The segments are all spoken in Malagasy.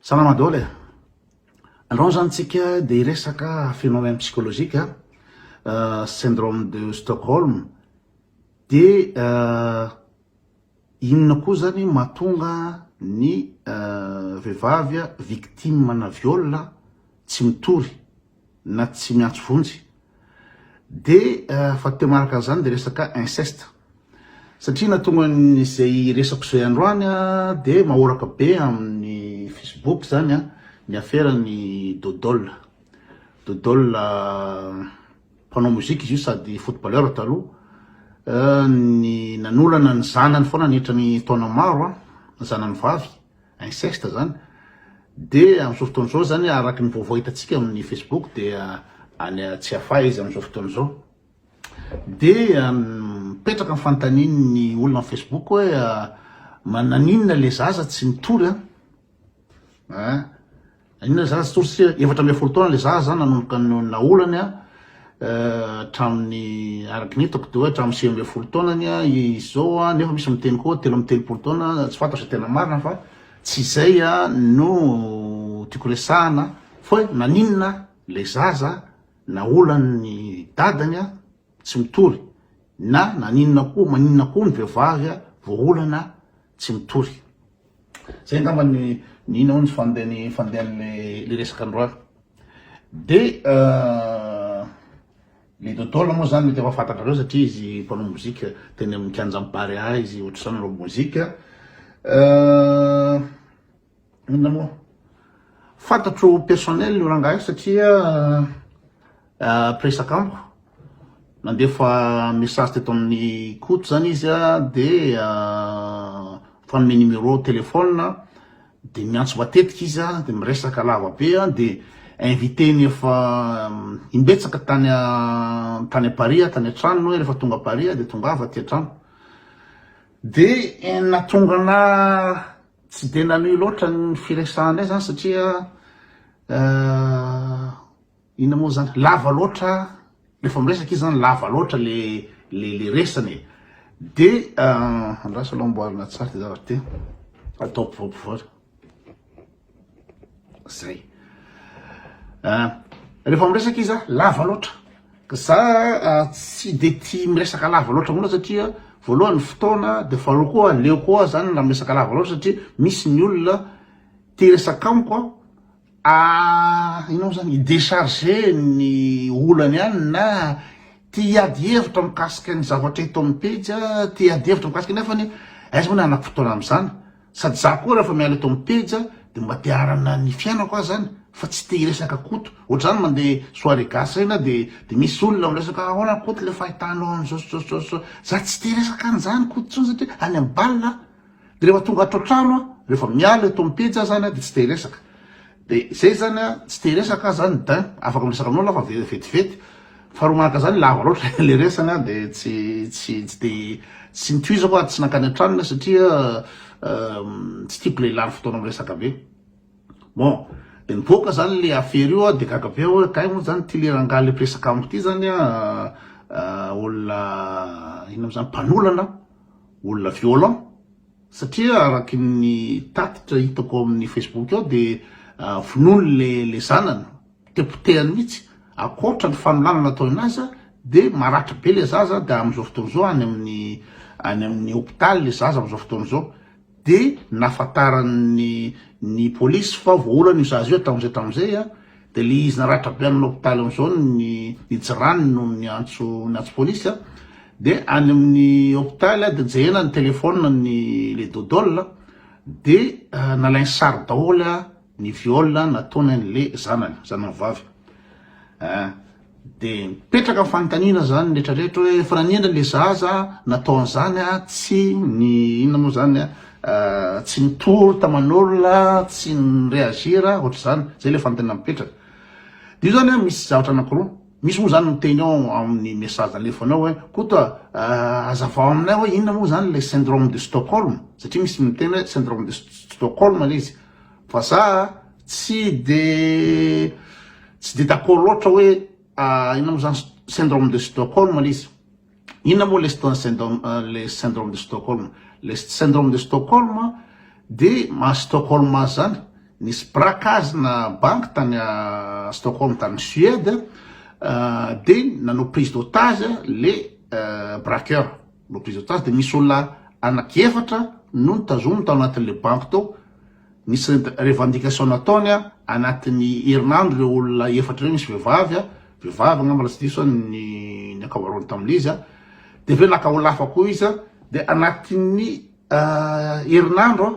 Salama dôly e! Androany zany tsika dia hiresaka phénomène psychologique a, syndrome de Stockholm, dia inona koa zany mahatonga ny vehivavy victime ana viol tsy mitory na tsy miantso vonjy dia fa teo manaraka an'izany dia resaka inceste satria nahatonga izay resako izay androany dia mahoraka be amin'ny facebook zany a ny aferan'ny dodol dodol mpanao mozika izy io sady footballeur taloha ny nanolana ny zanany foana nihitra ny taona maro a zanany vavy inceste zany dia amin'izao fotoana izao zany araka ny vaovao hitantsika amin'ny Facebook dia any Tsiafahy izy amin'izao fotoana izao dia mipetraka ny fanontanian'ny olona amin'ny Facebook hoe mananinona le zaza tsy mitory an Inona izany tsy tory sy efatra ambin'ny folo taona ilay zaza zany nanomboka ny naolany a hatramin'ny araka ny hitako dia hoe hatramin'ny sivy ambin'ny folo taonany a izy izao a nefa misy miteny koa telo amby telopolo taona tsy fantatra izay tena marina fa tsy izay a no tiako resahana fa hoe naninona ilay zaza naolan'ny dadany a tsy mitory na naninona koa maninona koa ny vehivavy a voaolana tsy mitory. Zay angamba ny nino aho ny fandehany fandehan'le resaka androany. De le Dodol moa zany mety efa fantatrareo satria izy mpanao mozika teny amin'ny kianjan'i Barea izy ohatr'izany manao mozika. Inona moa? Fantatro personnel io rangahy satria mpiresaka amiko. Nandefa message teto amin'ny Koto zany izy dia fanome numéro téléphone dia miantso matetika izy dia miresaka lava be dia invité-ny efa imbetsaka tany tany Paris aho tany an-tranony hoe rehefa tonga Paris aho dia tongava aty an-trano dia nahatonga anà Tsy dia nanohy loatra ny firesahanay izany satria inona moa izany, lava loatra, rehefa miresaka izy izany lava loatra ilay resany e. Dia andraso aloha amboarina tsara ity zavatra ity, atao ampovoampovoana. zay ah, rehefa miresaka izy a lava loatra ka za ah, tsy de ti miresaka lava loatra mona satria voalohany fotoana de faharo koa leo koa zany raha miresaka lava loatra satria misy ny olona ti resaka amiko a ah, inao zany idecharge ny olany any na ti hiady hevitra mikasika ny zavatra eto amny pejy a ti hiady hevitra mikasika nefany aiza moa ny hanako fotoana amzany Sady za koa rehefa miala eto am pejy de mba te aharana ny fiainako aho zany fa tsy te hiresaka Koto, ohatr'izany mande soirée gasy reny aho de de misy olona miresaka ahoana Koto le fahitanao an'izao sy zao sy zao sy zao, za tsy te hiresaka an'izany Koto tsony satria any am bal aho, de rehefa tonga ato an-trano aho, rehefa miala eto am pejy aho zany de tsy te hiresaka. De zay zany a, tsy te hiresaka aho zany dain, afaka miresaka aminao lafa vetivety, faharoa manaraka zany lava loatra le resany a de tsy tsy tsy de tsy nitohizako ary tsy nankany an-tranony aho satria tsy tiako le lany fotoana miresaka be. Bon, de nivoaka zany le afera io aho de gaga be aho hoe kay moa zany ty le rangahy le mpiresaka amiko ty zany a olona inona mo zany mpanolana, olona violent. Satria araky ny tatitra hitako ao amin'ny Facebook ao dia vonoiny le le zanany, potepotehany mihitsy, ankoatra ny fanolanana ataony aza dia maratra be le zaza dia amin'izao fotoana izao any amin'ny any amin'ny hopitaly le zaza amin'izao fotoana izao dia nahafantaran'ny ny polisy fa voaolan'io zaza io hatramin'izay hatramin'izay a. Dia le izy naratra be any lopitaly amizao ny jirany no niantso niantso police a, dia any aminy hopitaly a dia jerena ny telephone ny le dodol a dia nalainy sary daholo a ny viol nataony any le zanany zanany vavy a. Dia mipetraka ny fanontaniana izany retraretra hoe fa nanendry ilay zaza nataony izany a, tsy ny inona moa izany a, tsy nitory taman'olona, tsy ni-reagir ohatr'izany, izay ilay fanontaniana mipetraka. Dia io izany a misy zavatra anankiroa, misy moa izany miteny ao amin'ny message alefany ao hoe Koto a, hazavao aminay hoe inona moa izany ilay syndrome de Stockholm, satria misy miteny hoe syndrome de Stockholm ilay izy, Fa za tsy de tsy de d'accord loatra hoe inona moa zany syndrome de Stockholm le izy. Inona moa le le syndrome de Stockholm? Le syndrome de Stockholm de maha Stockholm azy zany, nisy mpirakaazina banky tany Stockholm tany Suède de nanao prise d'otage le braqueur. no prise otage dia misy olona anaky efatra no notazominy tao anatin'ilay banky tao, nisy revendication nataony an, anatin'ny herinandro ireo olona efatra ireo, nisy vehivavy an, vehivavy angamba raha tsy diso an, ny ny ankabaroany tamin'izy an, dia avy eo naka olona hafa koa izy an, dia anatin'ny herinandro an.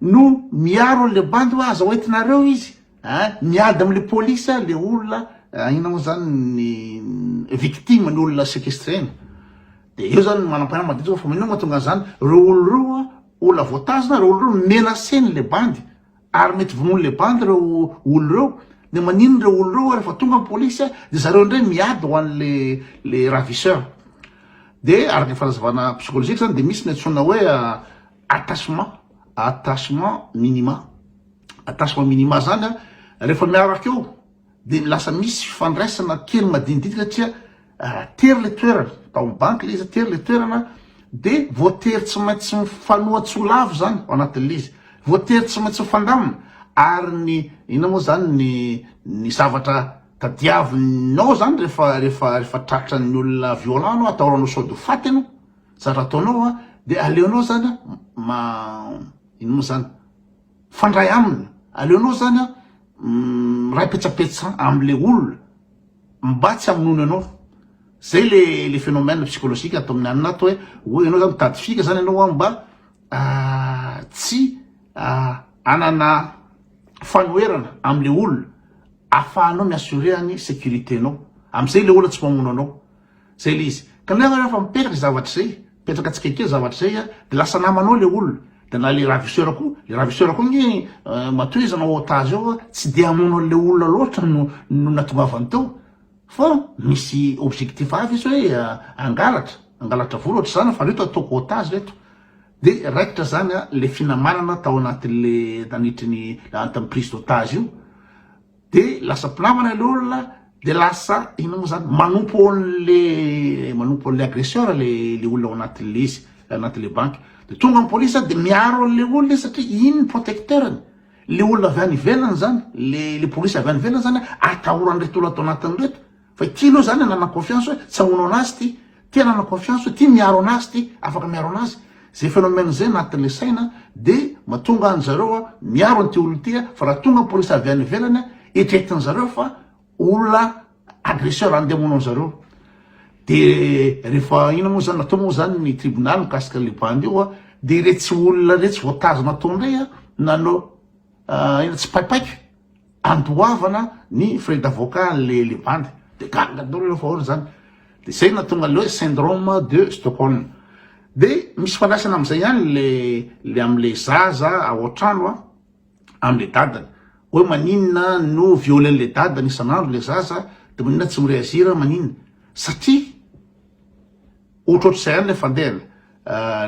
no miaro anle bandy hoe aza hoentinareo izy eh, miady amle police le olona eh, ina moa zany ny victime ny olona sequestrena de eo zany manam-panahy madinika fa mino mahatonga an'izany reo olo reo a olona voatazona reo olo reo menacen'le bandy ary mety vonoin'le bandy reo olo reo de manino reo olo reo rehefa tonga ny polisy a de zareo indray miady ho an'le le ravisseur de araka ny fanazavana psychologique zany de misy ny antsoina hoe attachement attachement minima attachement minima zany a rehefa miaraka eo de lasa misy fifandraisana kely madinidinika satria raha tery le toerana tao amin'ny banky le izy tery le toerana de voatery tsy maintsy mifanohatso lavo zany ao anatin'le izy voatery tsy maintsy mifandamina ary ny ina moa zany ny ny zavatra tadiavinao zany rehefa rehefa rehefa tratra ny olona violent anao ataoranao sode ho faty ianao Tsara ataonao an, dia aleonao zany an, ma, ino moa zany, mifandray aminy, aleonao zany an, miray petsapetsa amle olona mba tsy hamonoany anao, zay le le phenomène psychologique ato amin'ny anona ato hoe, hoe ianao zany mitady fika zany ianao an mba tsy hanana fanoherana amle olona, afahanao mi-assurer ny sécurité-nao, amzay le olona tsy mamono anao, Zay le izy. Ka le aho refa mipetraka zay zavatra zay, mipetraka tsikelikely zavatra zay a, de lasa namanao le olona, de na le ravisseur ko, le ravisseur ko nge matoa izy anao otage ao a, tsy de hamono anle olona loatra no no natongavany teo, fa misy objectif hafa izy hoe hangalatra, hangalatra vola otrizany, fa reto ataoko otage reto, de raikitra zany a le finamanana tao anatinle nanitry ny prise d'otage io. de lasa mpinamana le olona de lasa inona moa zany manompo an'le manompo an'le agresseur le le olona ao anatin'le izy anatin'le banky de tonga ny police de miaro an'le olona izy satria iny ny protecteur-ny le olona avy any ivelany zany le le police avy any ivelany zany atahoran'ireto olona ato anatin'ireto Fa ity aloha zany anana confiance hoe tsy hamono anazy ity, ity anana confiance hoe ity miaro anazy ity, afaka miaro anazy. Zay phénomène zay anatin'le saina de matonga an zareo a miaro an'ity olona ity a, fa raha tonga ny police avy any ivelany a eritreretin zareo fa olona agresseur andeha hamono an zareo. De rehefa ino moa zany natao moa zany ny tribunal mikasika le bandy io a, de iretsy olona iretsy voatazona tao ndray a nanao ino tsy paipaika. andoavana ny frais d'avocat anle le bandy de gaga daholo ireo fahaona zany de zay na tonga le hoe syndrome de Stockholm de misy fandraisana amizay ihany le le amle zaza ao antrano a amle dadany hoe maninona no violer le dadany isan'andro le zaza de maninona tsy mireagir maninona satria Ohatrohatr'izay ihany ilay fandehany.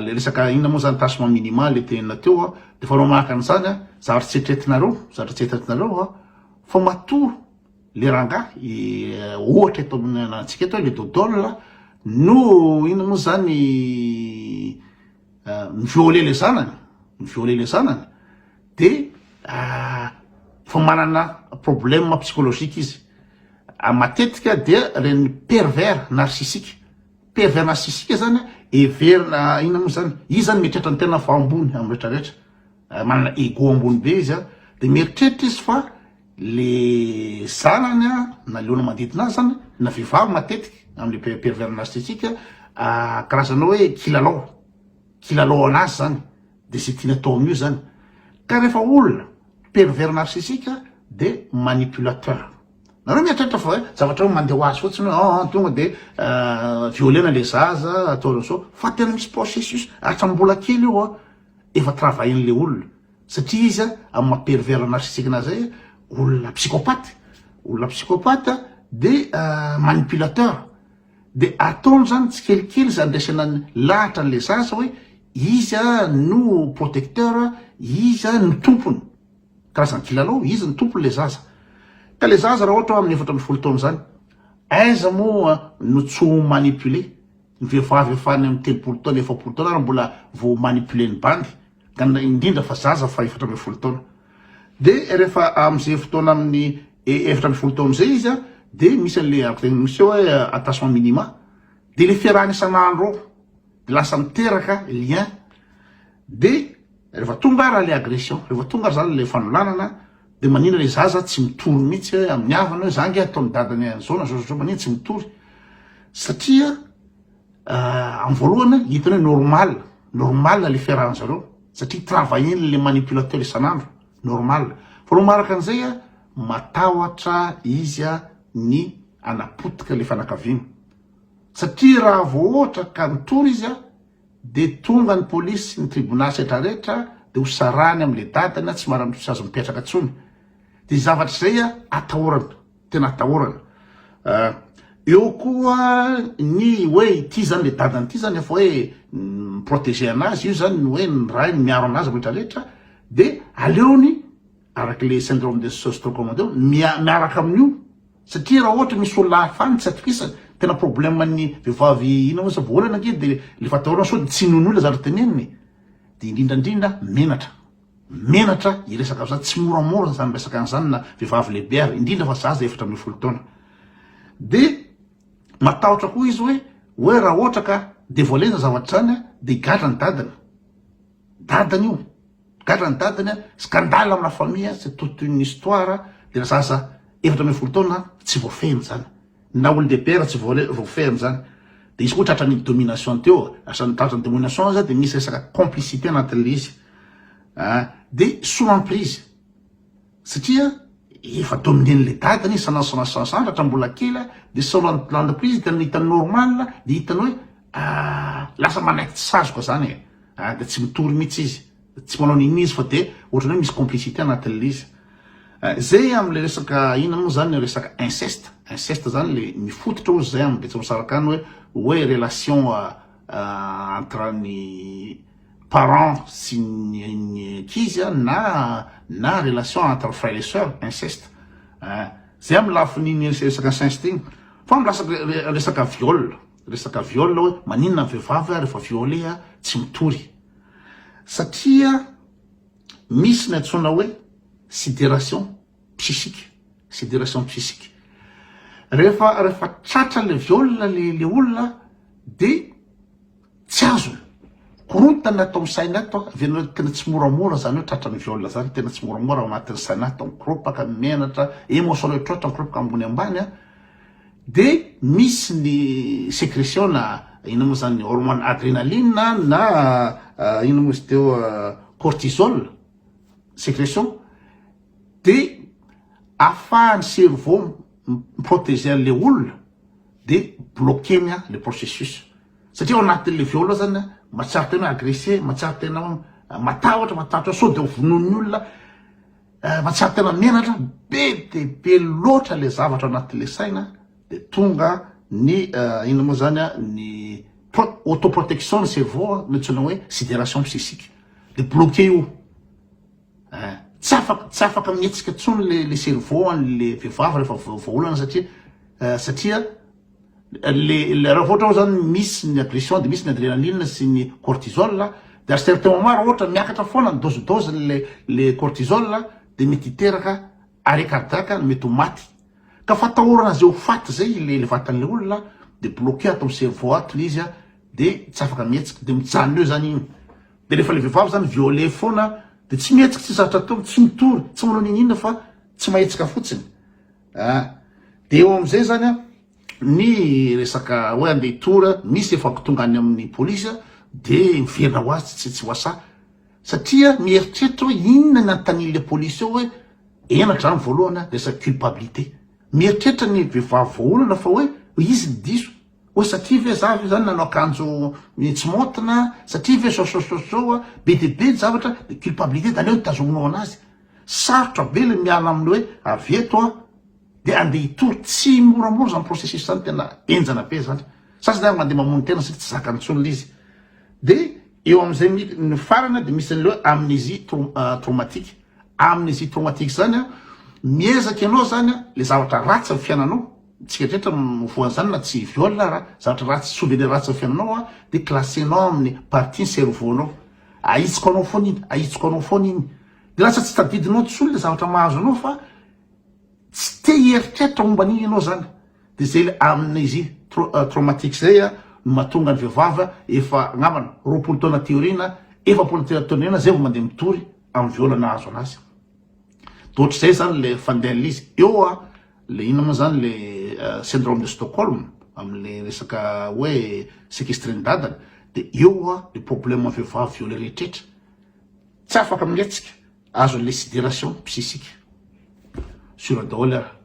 Ilay resaka inona moa izany, tâchement minimal ilay tenenina teo an, dia efa manahaka an'izany an, zavatra tsy eritreretinareo, zavatra tsy eritreretinareo an, fa matoa ilay rangahy, ohatra eto amintsika eto ilay dodol no inona moa izany, mi-violer le zanany, mi-violer le zanany de efa manana problème psychologique izy. Matetika dia reny pervers narcissique, pervers narcissique zany heverina inona moa zany, izy zany mieritreritra ny tenany fa ambony amin'ny rehetra rehetra, manana ego ambony be izy a, de mieritreritra izy fa. le zanany a na le olona manodidina azy zany na vehivavy matetiky amle pervers narcissique a karazana hoe kilalao kilalao anazy zany de ze tiany atao amin'io zany ka rehefa olona pervers narcissique a de manipulateur nareo mieritreritra fa hoe zavatra hoe mandeha ho azy fotsiny hoe an tonga de violena le zaza atao zao fa tena misy processus hatrambola kely io a efa travahin'le olona Satria izy amin'ny maha pervers narcissique anazy zay, olona psychopathe, olona psychopathe dia manipulateur, dia ataony zany tsikelikely zandraisana ny lahatra an'ilay zaza hoe izy no protecteur, izy no tompony, karazana kilalao, izy no tompon'ilay zaza. Ka ilay zaza raha ohatra amin'ny efatra ambin'ny folo taona zany, aiza moa no tsy ho manipuler, ny vehivavy efa any amin'ny telopolo taona, efapolo taona ary mbola vao manipuler ny bandy, Ganina indrindra fa zaza fa efatra ambin'ny folo taona. Dia rehefa amin'izay fotoana amin'ny efatra ambin'ny folo taona izay izy an, dia misy an'ilay araka izay misy eo hoe attachement minima. Dia ilay fiarahana isan'andro ao, dia lasa miteraka lien. Dia rehefa tonga ary ilay agression, rehefa tonga ary izany ilay fanolanana, dia maninona ilay zaza tsy mitory mihitsy hoe amin'ny havany hoe za ange ataon'ny dadany an'izao na izao na izao, maninona tsy mitory? Satria. Euh, amin'ny voalohany hitany hoe normal normal le fiarahan zareo satria travaillen le manipulateur isan'andro normal fa lo maraka an'izay a matahotra izy a ny anapotika le fanakaviana satria raha voaohatra ka nitory izy a de tonga ny polisy ny tribunal setrarehetra de ho sarany am'le dadany a tsy maramitosazy mipetraka tsony de zavatra izay a atahorana Tena atahorana. Eo koa ny hoe ity zany le dadany ity zany efa hoe mi-protéger anazy, io zany ny hoe ny rainy miaro anazy rehetra rehetra, de aleony araky le syndrome de Stockholm teo miaraka amin'io satria raha ohatra misy olona hafa any tsy atokisany, tena problème ny vehivavy inona moa izy voaolana ange de le efa atahorana sao de tsy noho ny olona zavatra teneniny, de indrindra indrindra menatra, menatra hiresaka amzany tsy moramora zany resaka anzany na vevavy lehibe ary indrindra fa zaza efatra ambin'ny folo taona de matahotra koa izy hoe hoe raha ohatra ka devoile zany zavatra zany a de higadra ny dadany dadany io gadra ny dadany a scandale amina famille c'est toute une histoire de la zaza efatra ambin'ny folo taona tsy voafehiny zany Na olondehibe aza tsy voafehy amzany de izy koa tratra ny domination teo asan'ny tratra ny domination aza de misy resaka complicité anatin'le izy ah de sous emprise satria efa dominen'le dadany izy sandratra mbola kely de sous emprise de ny hitany normal de hitany hoe ah lasa manaiky tsy sazoka zany e ah de tsy mitory mitsy izy. Tsy manao n'inona izy fa dia ohatrany hoe misy complicité anatin'ilay izy. Izay amin'ilay resaka inona moa izany, resaka inceste, inceste izany ilay mifototra hozy izay amin'ny Betsimisaraka any hoe hoe relation entre ny parent sy ny ankizy na na relation entre frère et soeur, inceste. Izay amin'ny lafin'iny resaka inceste iny. Fa milatsaka resaka viol, resaka viol hoe maninona ny vehivavy rehefa violer tsy mitory. satria misy ny antsoina hoe sidération psychique sidération psychique rehefa rehefa tratra le viole le le olona de tsy azony korontana ato amin'ny saina ato avy anao tena tsy moramora zany hoe tratra ny viole zany tena tsy moramora ao anatin'ny saina ato mikoropaka menatra émotionnel troatra mikoropaka ambony ambany a De misy ny secretion na inona moa zany hormone adrenaline na inona moa izy teo cortisol secretion de afahan'ny cerveau mi-proteger an'le olona de bloquer-ny a le processus satria ao anatin'le viol ao zany a mahatsiaro tena hoe agresser mahatsiaro tena hoe matahotra matahotra sao de ho vonoin'ny olona Eh fa tsy ary tena menatra, be de be loatra le zavatra anatin'le saina de tonga ny eh, inona moa zany ah, ny autoprotection ny cerveau ah, nantsoina hoe sidération psychique de bloqué io eh, tsy afaka tsy afaka mihetsika tsony le le cerveau an'le vehivavy rehefa vahaolana satria eh, satria le raha ohatra zany misy ny agression de misy ny adrenaline sy ny cortisol de à certain moment raha ohatra miakatra foana ny dose dose le le cortisol de mety hiteraka arret cardiaque no mety ho maty ka fatahorana zay ho faty zay le le vatan'le olona de bloqué ato am cerveau ato le izy a de tsy afaka mihetsika de mijanona eo zany igny de refa le vehivavy zany viole foana de tsy mihetsika tsy zatra atao tsy mitory tsy manao nini inona fa tsy mahetsika fotsiny Ah, dia eo amin'izay izany an, ny resaka hoe andeha hitory, misy efa tonga any amin'ny polisy an, dia miverina ho azy tsy tsy wasa. Satria mieritreritra hoe inona ny anontanian'ilay polisy eo hoe henatra izany voalohany an, resaka culpabilité. Mieritreritra ny vehivavy voaolana fa hoe izy ny diso. Oa satria ve za ve zany nanao akanjo tsy maontina, satria ve zao zao zao zao, be dia be ny zavatra, ny culpabilité de aleo ny tazominao anazy, sarotra be le miala amin'ny hoe avy eto aho de andeha hitory, tsy moramora zany processus zany, tena enjana be zany, sasany ary mandeha mamono tena satria tsy zakany intsony le izy, de eo amin'izay mit ny farany de misy an'le hoe amnésie trom traumatique, amnésie traumatique zany an, miezaka ianao zany an, le zavatra ratsy ny fiainanao, Tsika dretra no voanzany na tsy viol ara, zavatra ratsy souvenir ratsy amin'ny fiainanao an de classenao amin'ny partie ny cerveau nao, ahitsiko anao foana iny, ahitsiko anao foana iny, de lasa tsy tadidinao tsony le zavatra mahazo anao fa tsy te hieritreritra momba an'iny ianao zany, de zay le amnesie traumatique zay an no mahatonga ny vehivavy an efa angambany roapolo taona aty aoriana, efapolo taona aty aoriana zay vao mandeha mitory amin'ny viol nahazo anazy, de ohatr'izay zany le fandehan'ilay izy eo an. Le inona moa zany le syndrome de Stockholm amle resaka hoe sequestrer ny dadany de eo hoa le problème vehivavy violer rehetrretra tsy afaka mihetsika azo le sidération psychique sur daholo ary